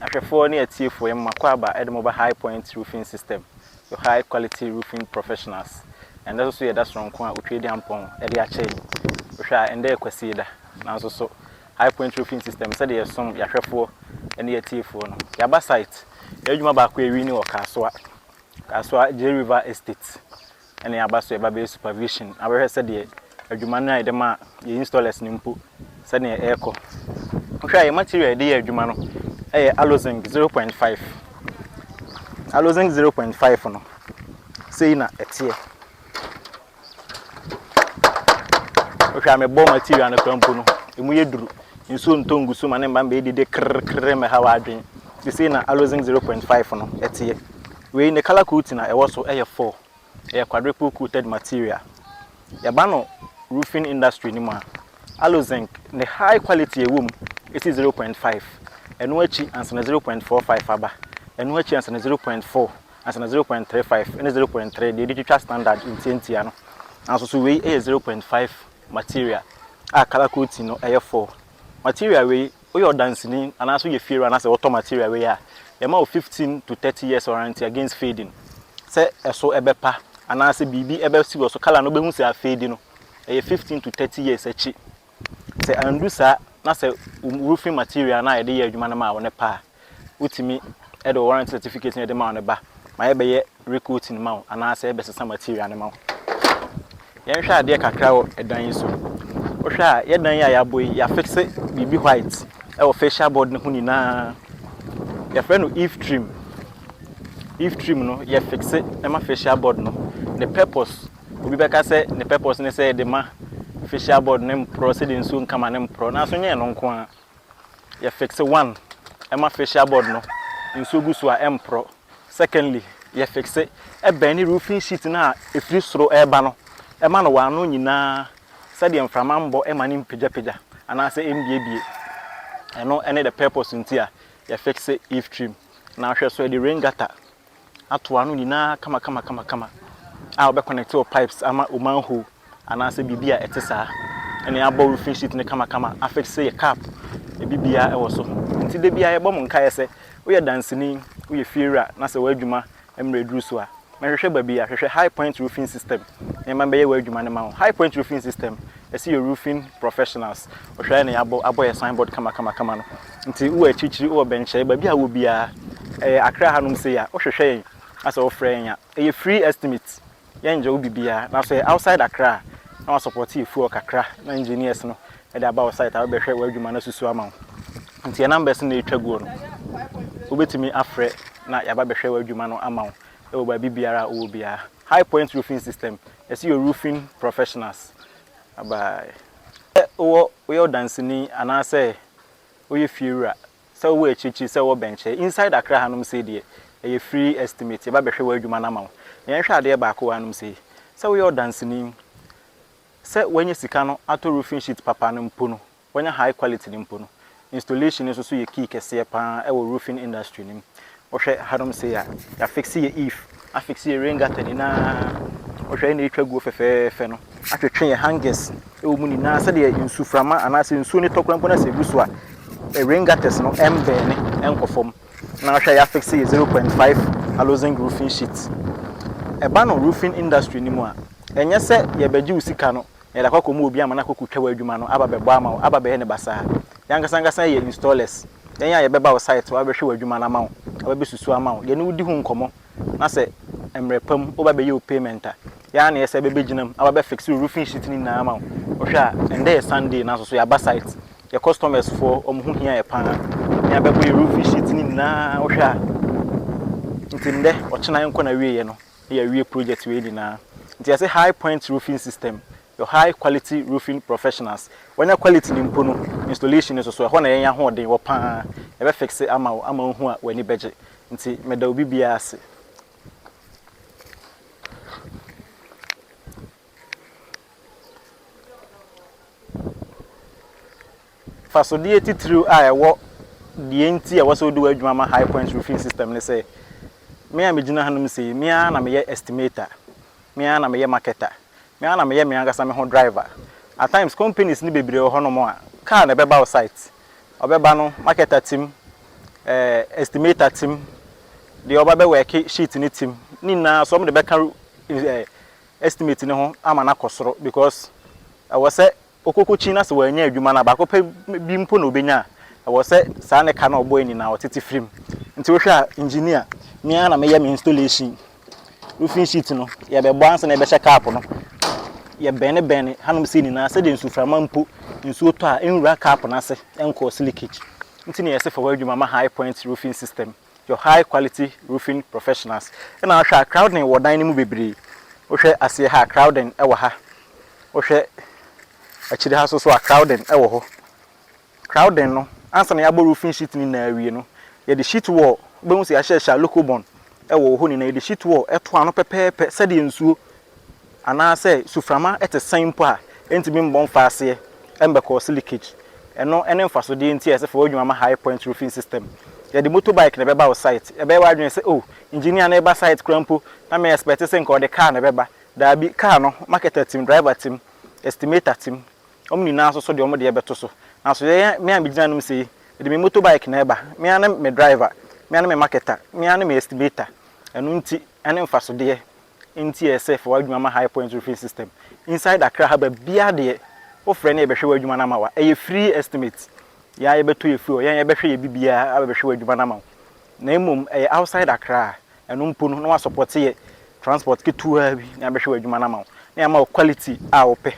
Ahwɛfoɔ ne atiefoɔ, yɛma mo akwaaba de mo ba High Point Roofing System, your high quality roofing professionals. Ɛndɛ soso yɛ da sononko a Otwei de Ampɔn de akyɛ yɛn. Wohwɛ a, ɛndɛ yɛ Kwasieda, nanso so High Point Roofing System, sɛdeɛ yɛsom yɛn ahwɛfoɔ ne yɛn atiefoɔ no, yɛaba site, yɛn adwuma baako a yɛwi ne wɔ Kasoa, Kasoa J River Estate, na yɛaba so yɛba bɛyɛ supervision abɛhwɛ sɛdeɛ adwuma no a yɛde ma yɛn installers no mpo sɛdeɛ ɛrekɔ. Wohwɛ a yɛn material a yɛde yɛ adwuma no yɛ Allozinc zero point five. Allozinc zero point five no sei na ɛteɛ. Wohwɛ a mebɔ material no kora mpo no ɛmu yɛ duru. Nsuo ntɔ ngu so ma ne mma mbɛyɛ dede krrkrr mmɛha w'adwene. Sesei na Allozinc zero point five no ɛteɛ. Wei ne colour coating a ɛwɔ so ɛyɛ four ɛyɛ quadruple coated material yɛba no roofing industry no mu a Allozinc ne high quality a ɛwɔ mu ɛsi zero point five ɛno akyi ansa na zero point four five aba ɛno akyi ansa na zero point four ansa na zero point three five ɛne zero point three deɛ yɛde twitwa standard ntiantia no nanso so wei ɛyɛ zero point five material a colour coating no ɛyɛ four material wei. Woyɛ ɔdanseni anaasɛ woyɛ fiewura anaasɛ wotɔ material wei a, yɛma wo fifteen to thirty years warranty against fading. Sɛ ɛso ɛbɛpa anaasɛ biribi ɛbɛsi wɔ so, colour no wobɛhu sɛ afeedi no, ɛyɛ fifteen to thirty years akyi. Sɛ andu saa na sɛ wo roofing material no a yɛde yɛ adwuma no maa wo no pa a, wotumi de wo warranty certificate no de ma wo no ba ma yɛbɛyɛ recoating ma wo anaasɛ yɛbɛsesa material no ma wo. Yɛnhwɛ adeɛ kakra wɔ dan yi so. Wohwɛ a, yɛ dan yi a yɛabɔ yi, yɛafixe biribi white wɔ facial board no ho nyinaa. Yɛfrɛ no eave trim. Eave trim no, yɛfixe ma facial board no. Ne purpose, obi bɛka sɛ ne purpose ne sɛ yɛde ma facial board no mporɔ sɛdeɛ nsuo nkama no mporɔ, nanso nyɛ ɛno nko ara. yɛ fixe one ɛma facial board no nsuo gu so a ɛmporɔ secondly yɛ fixe ɛbɛn ne roofing sheet no a ɛfiri soro ɛreba no ɛma no w'ano nyinaa sɛdeɛ mframa mbɔ ɛma no mpagyapagya anaasɛ ɛmbiebie ɛno ɛne the purpose nti a yɛ fixe eave trim na ahwɛ so yɛde rain gutter ato ano nyinaa kamakamakamakama a wɔbɛ connect wɔ pipes ama wo manhole anaasɛ biribi a ɛte saa ɛne abɔ roofing sheet no kamakama afixe yɛ cap ebi biara ɛwɔ so nti da biara yɛbɔ mo nkaeɛ sɛ woyɛ danseni woyɛ fiewura na sɛ w'adwuma mmerɛ aduru so a mɛhwehwɛ baabi a hwehwɛ high point roofing system na yɛma bɛyɛ w'adwuma no ma wo high point roofing system ɛsi yɛ roofing professionals ɔhwɛ ne abɔ abɔ yɛ signboard kamakama kama no. Nti wowɔ akyirikyiri, wowɔ bɛnkyɛe, baabi a wowɔ biara, ɛyɛ Accra hanom sei a, wohwehwɛ yɛn na sɛ wofrɛ yɛn a, ɛyɛ free estimate, yɛnngye wo biribiara. Na sɛ ɛyɛ outside Accra a, na wɔasɔpɔɔte yɛ fuel kakra na engineers no de aba wo site a wɔbɛhwɛ w'adwuma no asusu ama wo. Nti yɛn numbers no na ɛtwa guo no, wobɛtumi afrɛ na yɛaba abɛhwɛ w'adwuma no ama wo wɔ baabi biara a wowɔ biara. High Point Roofing System, yɛse yɛ roofing professionals. Bye bye. Sɛ wowɔ, woyɛ ɔdanseni anaasɛ woyɛ fie wura, sɛ wowɔ akyirikyiri, sɛ wowɔ bɛnkyɛ, inside Accra hanom sei deɛ, ɛyɛ free estimate, yɛba bɛhwɛ w'adwuma no ama wo. Na yɛnhwɛ adeɛ baako wɔ hanom sei, sɛ woyɛ ɔdanseni, sɛ woanya sika no atɔ roofing sheet papa no mpo no, woanya high quality no mpo no, installation no nso so yɛ key kɛseɛ pa ara wɔ roofing industry no mu. Wohwɛ hanom sei a, yɛafixe yɛn eave, afixe yɛn rain gutter nyinaa. Wohwɛ ɛnna yɛatwa aguo fɛfɛɛfɛ no, atwetwe yɛn hangers wɔ mu nyinaa sɛdeɛ nsuframa anaasɛ nsuo no tɔ koraa mpo na sɛ ɛgu so a, rain gutters no mmɛɛne nkɔ fam. Na wohwɛ a yɛafixe yɛn zero point five halogen roofing sheet. Ɛba no roofing industry no mu a, ɛnyɛ sɛ yɛbɛgye wo sika no na yɛde akɔ akɔ mu obi ama no akɔ kotwa wo adwuma no aba bɛbɔ ama wo aba bɛyɛ ne basaa yɛn ankasa ankasa yɛ installers yɛn a yɛbɛba wo site hɔ abɛhwɛ w'adwuma no ama wo aba bɛsusu ama wo yɛne wo di ho nkɔmmɔ na sɛ mmerɛ pa mu woba bɛyɛ wo payment a yɛn ara na yɛsɛ bɛ bɛgyina mu aba bɛ fixe wo roofing sheet no nyinaa ama wo wohwɛ a ɛndɛ yɛ Sunday nanso so yɛaba site yɛ customers foɔ wɔn ho hia yɛ paa yɛn abɛbɔ yɛ roofing sheet no nyinaa wohwɛ a nti ndɛ ɔkyena yɛnkɔ na wieɛ no. Yɛawie project wei nyinaa. Nti yɛse High Point Roofing System, your high quality roofing professionals. Wanya quality no mpo no, installation no so so, ɛhɔ na yɛn ahoɔden wɔ pa ara. Yɛbɛ fixe ama wo ama woahu a w'ani bɛgye. Nti meda obi biara ase. Mfasodeɛ titiriw a ɛwɔ deɛ nti a ɛwɔ sɛ wode w'adwuma ma High Point Roofing System ne sɛ, me a megyina hanom sei yi, me ara na meyɛ estimator, me ara na meyɛ marketer, me ara na meyɛ me ankasa me ho driver. At times, companies no bebree wɔ hɔnom a, car na ɛbɛba wo site. Ɔbɛba no, marketer te mu, eh, estimator te mu, deɛ ɔba bɛwɛɛke sheet no te mu, ne nyinaa nso wɔde bɛka eh, estimate no ho ama no akɔ soro because ɛwɔ sɛ okokokyin na sɛ wannya adwuma no a baako pɛ bi mpo na obenya a ɛwɔ sɛ saa ne ka no a ɔbɔe nyinaa ɔtete firi mu. Nti wohwɛ a engineer me ara na meyɛ me installation roofing sheet no yɛbɛbɔ ansa na yɛbɛhyɛ cap no yɛ bɛne bɛne hanom sei nyinaa sɛdeɛ nsuframa mpo nsuo tɔ a ɛnwura cap no ase ɛncause leakage nti na yɛse fa w'adwuma ma high point roofing system. Your high quality roofing professionals na ahwɛ a crowding wɔ dan no mu bebree wohwɛ aseɛ ha a crowding wɔ ha wohwɛ akyire ha soso a crowding wɔ hɔ crowding no ansa na yɛabɔ roofing sheet no nyinaa awie no yɛde sheet wall wobɛhu sɛ yɛahyehyɛ a local bond wɔ hɔ nyinaa yɛde sheet wall to ano pɛpɛɛpɛ sɛdeɛ nsuo Anaa sɛ suframa te sɛn mpo a, ɛntumi mmɔ mfa aseɛ mmɛkɔɔse leakage. Ɛno ne mfasodeɛ nti a ɛsɛ fa w'adwuma ma High Point Roofing System. Yɛde motorbike na ɛbɛba wo site. Ɛbɛyɛ w'adwene sɛ, Oh, engineer no reba site koraa mpo, na me expect sɛ nka ɔde car na ɛbɛba. Daabi, car no, marketer tim, driver tim, estimator tim, wɔn nyinaa nso so de wɔn deɛ bɛto so. Nanso yɛn a, me a megyina anom sei, mede me motorbike na ɛba, me ara ne me driver, me ara ne me marketer, me ara ne me estimator. Ɛno nti, ɛne mfasodeɛ Nti ɛsɛ fa w'adwuma ma High Point Roofing System inside Accra ha baabiara deɛ wo frɛ na yɛbɛhwɛ w'adwuma no ama wa ɛyɛ free estimate yɛa yɛbɛtɔ yɛ fuel yɛa yɛbɛhwɛ yɛ bibiara abɛhwɛ w'adwuma no ama wo na mmom ɛyɛ outside Accra a ɛno mpo no na wa support yɛ transport ketewa bi na yɛabɛhwɛ w'adwuma no ama wo na yɛama wo quality a wopɛ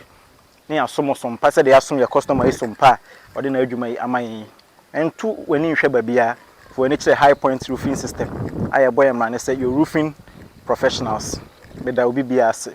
ne yɛasom wo som pa sɛdeɛ yɛasom yɛn kɔstɔma yi som pa a ɔde n'adwuma yi ama yɛn yi. Nto w'ani nhwɛ baabiara, fa w'ani kyerɛ High Point Roofing System a yɛbɔ yɛn mmara ne sɛ your roofing professionals. Meda obi biara ase.